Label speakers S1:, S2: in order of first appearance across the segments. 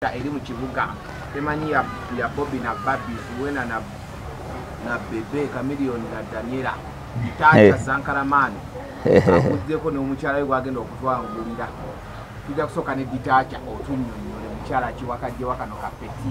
S1: nga eri mu kibuga temanyi ya, ya bobi na babi wena na, na bebe kamilion na daniela taata hey. Eh. zankaramani akuddeko n'omukyala we gwagenda okutwangulira tujja kusooka ne ditaakya otunyonyole mukyala kiwakajjewakano kapeti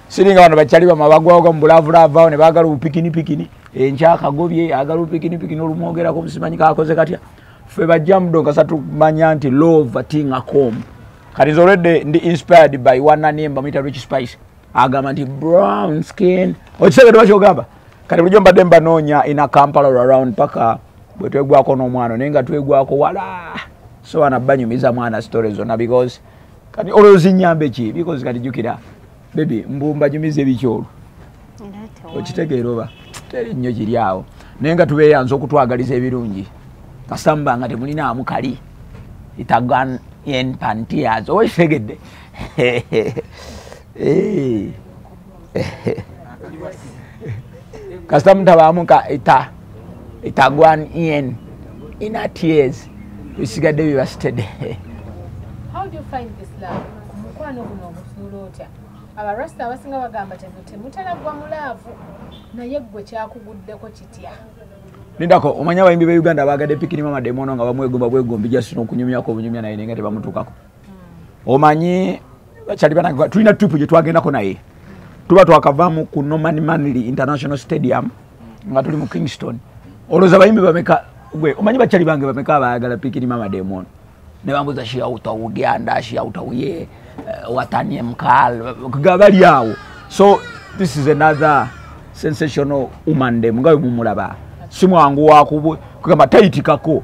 S2: siringa bano bakyali bama bagwawoga mubulaavulaavaawo ne baagala obupikini pikini enkyakagobye eh, agala obupikini pikini olumwogerako musimanyi kakoze katya ffe bajja mudonga satumanya nti lova tinga com kati nze olwedde ndi inspired by wananimba muyita rich spice agamba nti brown skin okisegede bakyogamba kati bulijo mbadde mbanoonya ina kampala around paka bwetwegwako n'omwana naye nga twegwako wala soana banyumiza mwana story zona because kati olwo zinyambe ki because kati jukira bebi mbu mbanyumiza ebikyolo okitegeera oba teri nnyo kiri awo naye nga tubeyanza okutwagaliza ebirungi kasamba nga temulinaamu kali itagan en pantias oba kitegedde Eh. kasita mutabamuka eta etagwan en ina tears bisigadde bibasitede
S3: abarasta abasinga bagamba temutera gwa mulaavu naye gwe kyakuguddeko kitya nindako
S2: omanya abayimbi be uganda bagade pikini mama demono nga bamwegomba bwegombi jasina okunyumyako obunyumya naye nenga tebamutukako hmm. omanyi bakyali banange tulina tripu gye twagendako naye tuba twakavaamu ku norman manly international stadium nga tuli mu kingston olowooza bayimbi bameka gwe omanyi bakyali bange bameka abayagala pikiri mama demono ne bambuza shiauta udianda shiauta uye eh, watanie mkal gabali awo so this is another sensational woman dem nga bwe mumulaba si mwangu wakugamba tayitikako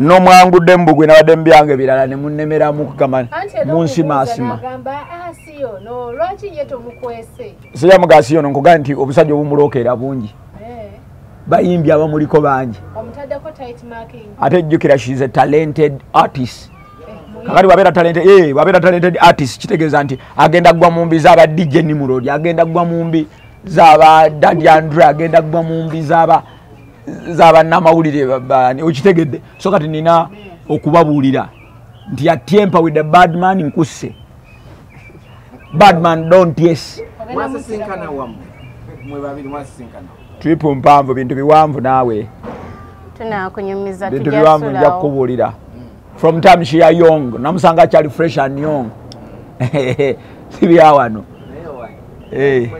S3: nomwangudde
S2: mu bugwe nabadde mubyange birala nemunemeramu kugamba munsimasima
S3: sijamuga asiyo no
S2: nkugaa nti obusajja obumulokeera bungi eh. bayimbi abamuliko bangi
S3: ate jjukira she is a
S2: talented artist kakati wabeera talente eh, wabeera talented artist kitegeeza nti agenda kugwa mu mbi zaaba dj nimurodi agenda kugwa mu mbi zaba dadi andre agenda gwa mumbi zaba zaba namawulire babani okitegedde so kati nina okubabuulira nti atempa with the bad man nkusse bad man don't yes
S1: triple mpanvu
S2: bintu biwanvu naawe
S3: bintu biwanvu
S2: nja kukubuulira from time she are young namusanga akyali fresh and young sibyawano eh.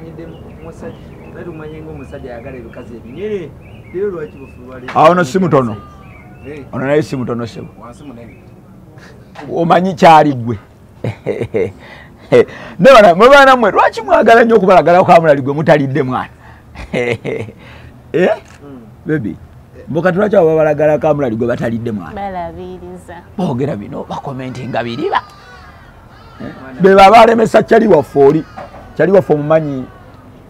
S2: awo no simutono eh. ono naye simutono sebo omanyi kyali gwe nebana mwe baana mwe lwaki mwagala nnyo okubalagala kwamulali gwe mutalidde mwana eh? bebi mbuka tulwaki abo babalagala kamulali gwe batalidde mwana
S3: bogera bino
S2: bakomentinga biriba eh? beba balemesa cali waffe oli cali waffe omumanyi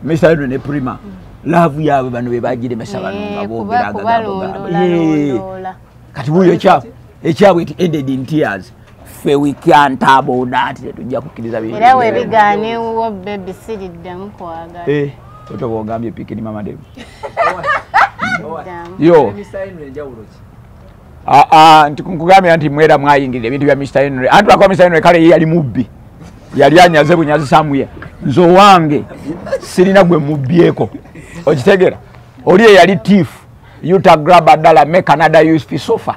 S2: misaeno ne prima laavu yaabwe bano bebagiremesa bano nga eh, bogeragaga kati buyo ekyabwe ekyabwe ti ended in tears ffe wikyantaabodaati tetujja kukkiriza era webigaana
S3: ewuwo bebi siriddemu kwagala eh, oto bwogambye
S2: pikini mama debi yo ah, ah, nti nkugambira nti mwera mwayingirira ebintu bya mr henry anti lwakuba mr henry kale ye yali mubbi yali anyaze bunyazi samuye nze owange sirina gwe mubbyeko okitegera oli eyali tiifu uta graba dala me canada usp sofa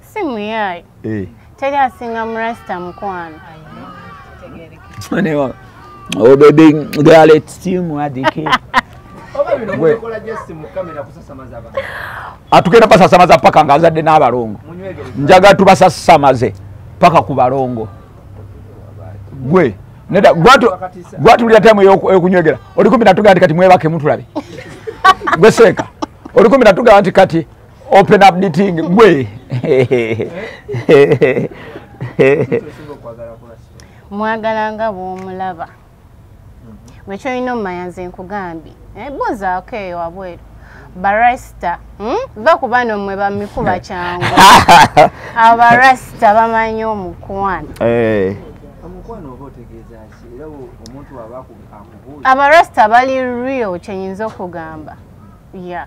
S4: si muyaayi eh. teri asinga murasita mukwano
S2: Oh baby, girl, it's still more than care. atugenda basasamaza paka nga azadde n'abalongo njaga tubasasamaze paka ku balongo gwe neda gwatulira temu yokunywegera olikumbi natugamba nti kati mwebake mutulabe gwe seeka olikumbi natugamba nti kati open up the thing gwe
S4: mwagala nga bwomulaba gwe kyolina omumanya nze nkugambye eh, buuzaako eyo wabweru barasita hmm? va ku bano mwe bamikuba kyangu abo barasita bamanyi omukwano
S1: eh. abarasita bali
S4: real kyenyinza okugamba ya yeah.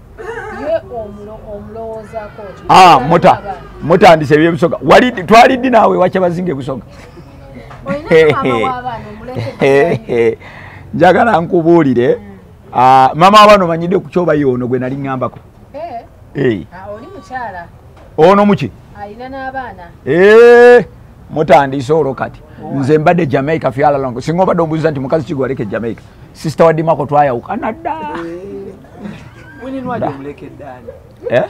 S3: Ah, muta mutandise
S2: ebyebusoga wali twali ddi naawe wakyabazinga ebusoga njagala nkubuulire hmm. ah, mama wabano manyidde ku kyoba ye ono gwe nali ŋambako eh. eh.
S3: ah, ono muki eh, mutandise
S2: olwo kati nze mbadde jamaica fyalalongo singa obadde ombuziza nti mukazi kigwaleke jamaica sisita wadimako twayawukana dda
S1: Eh?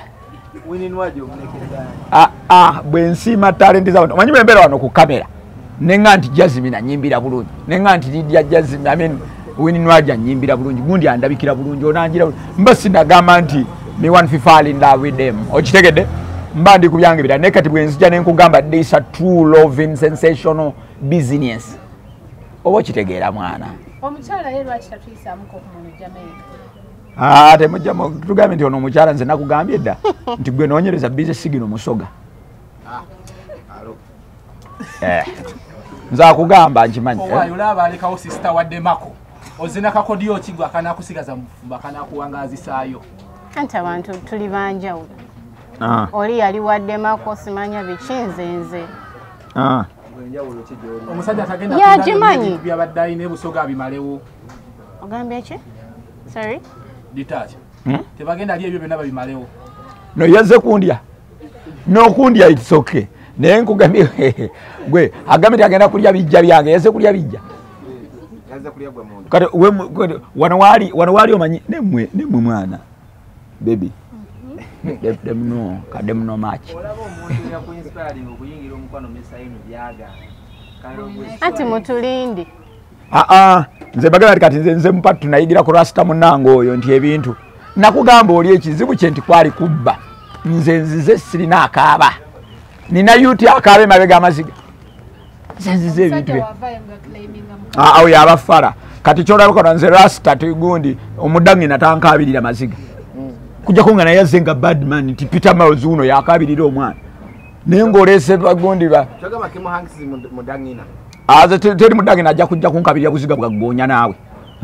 S1: Ah, ah,
S2: bwensiima talenti zabantu omanyi bwembeera wano ku kamera nenga nti jazimi nanyimbira bulungi nenga nti lidya jazimi amin wininwaja anyimbira bulungi gundi andabikira bulungi onanjira mba sinagamba nti me one fifal in love with them okitegedde mba ndi kubyange bira naye kati bwenzija nenkugamba this a true loving sensational business oba okitegeera mwana omukyala ye lwaki
S3: tatuyisamuko ku muntu jamaica ah, temujja
S2: tugambye nti ono omukyala nze nakugambye dda nti gwe nonyereza bize sigino musoga ah, eh, nze akugamba nkimanyi
S5: ozina kakodi okigwa akanakusigaza mufumba akanakuwangazisaayo anti
S4: abantu tuli banjawulo ah. oli yali waddemako simanya bikinzenze
S5: omusajja tagenda yagimanyi byabadde
S4: alina ebusoga
S5: abimalewo ogambye
S4: ki sorry detach
S5: hmm? tebagenda ali ebyo byonna babimalewo no yazze
S2: kundya nokundya it's okay naye nkugambye gwe agambye nti agenda kulya bijja byange yazze kulya bijja
S1: kati
S2: wano waali omanyi nemwe mwana baby dem no kadem no match
S4: ati mutulindi aa ah, ah.
S2: nze bagala ti kati nze mupatu tunayigira ku rasta munange oyo nti ebintu nakugamba oli ekizibu kye nti kwali kubba nze nzize sirina akaaba nina yuti akaabe mabega amaziga zenziza ebintu bye ah, awo yaba fara kati kyolabakona nze rasta tugundi omudangi natankabirira maziga mm. kujako nga naye aze nga badman nti peter miles uno yakabirira omwana naye ngaolese bagundi ba
S1: ah, teri
S2: mudangina ajja kujja kunkabirira buziga bwaggoonya naawe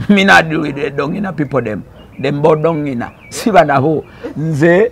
S2: minadwidedongina people dem dembodongina sibanabo nze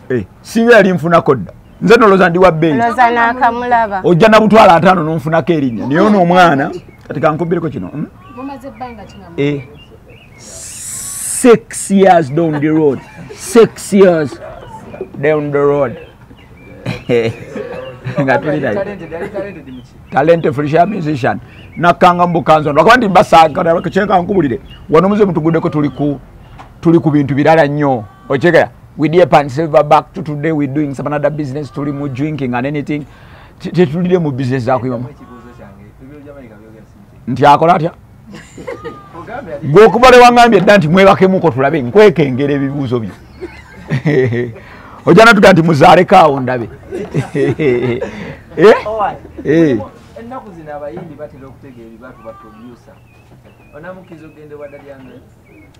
S3: Eh, singa yali
S2: nfunako dda nze noloza ndi wabbeeyi
S4: ojja nabutwala ataano
S2: nonfunako erinnya naye ono omwana kati kankubireko kino hmm?
S3: eh, six
S2: years down the road six years down the road nga tulinayo talente frisha musician nakanga mubukanzo lwakuba nti mbasankana kyekankuburire wano muze mutugudeko tuli ku bintu birala nnyo okyegera we dear pan silver back to today we doing some another business tuli mu drinking and anything tetulire mu business za kuyima nti akola atya gwe okuba lewangambye dda nti mwebakemuko tulabe nkwekengera ebibuuzo byo ojja natuga nti muzaaleko awo ndabe
S1: eh? eh. ennaku zino abayimbi batera okutegeera ebibatu baproducer onamukiriza okugenda ewadalyangansi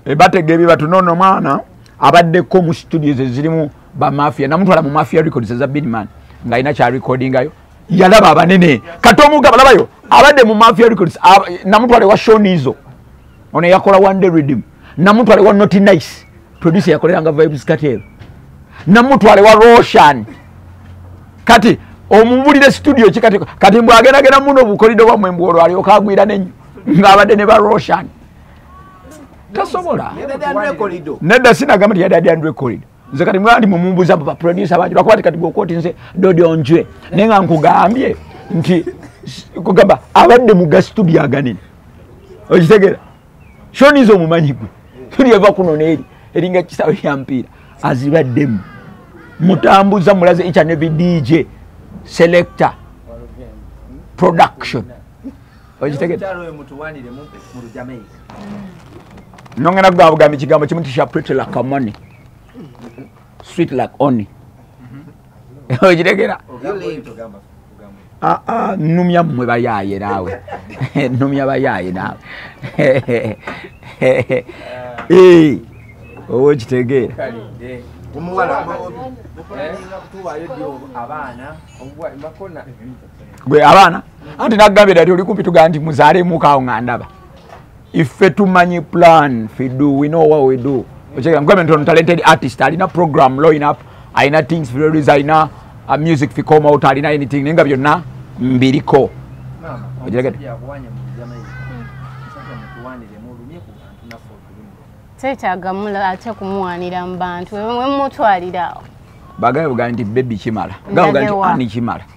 S1: Eh, batega ebyo batu
S2: nono mwana abaddeko mu studios ezirimu bamafia namutwala mu mafia records eza binman nga alina kyarecordingayo yalaba abanene kati omugaba labayo abadde mu mafia records namutwala ewa shonizo ono yakola one day redim namutwala ewa not nice producer yakoleranga vibes katel namutwala ewa roshan kati omubulire studio ki kati kati mbwagendagenda muno obukolido bwamwe mbwolwalioka agwira nenyo ngaabadde ne ba roshan tasobola nedda sinagamba nti yadadi andre corridor nze kati mwandi mumumbuza mu baproducer bangi lwakuba ti kati gwokoti nze dodi onjwe naye nga nkugambye nti kugamba abadde mu gasitudio aganene okitegera shonize omumanyi gwe tuli eva kuno neeri eringa kisawe kya mpiira azibaddemu mutambuza mulaze each and every dj selector production okitegedde nongenda kugamba bugambi kigambo kimu tisha pretty like money sweet like only okitegera ah, ah, numya mwe bayaye nawe numya bayaye nawe eh, owo kitegeera omuwala eh? gwe abaana anti nagambye dati oli kumpi tugamba nti muzaalemukawo nga ndaba ife tumanyi plan fidu we know what we do okyegambgamentono talented artist alina program loin up alina things fidolis alina uh, music ficome out alina anything naye nga byonna mbiriko okiregede
S4: tetagamulo ate kumuwanira mu bantu wemutwaliraawo bagaye bugambi
S2: nti bebi kimala gabugambi nti ani kimala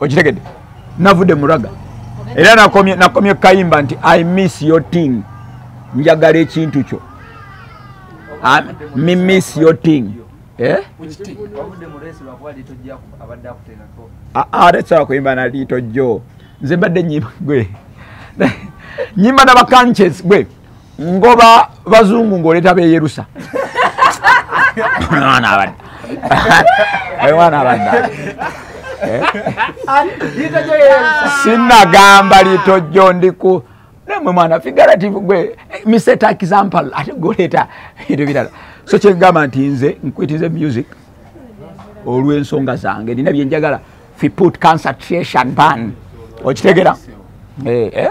S2: okitegede navude muraga era nakomye nakomye kayimba nti i miss your thing njagala ekintu kyo ah, mi miss your thing eh ah, ah that's how kuyimba na lito jo nze mbadde nyimba gwe nyimba na bakanches gwe ngoba bazungu ngoleta beyerusa mwana abadde mwana abadde eh? sinagamba litojjo ndiku nemwe mwana figurative gwe miseta example ate goleta ebintu birala so kyengamba nti nze nkwitize music olw'ensonga zange nina byenjagala fiput concentration ban okitegera eh, eh?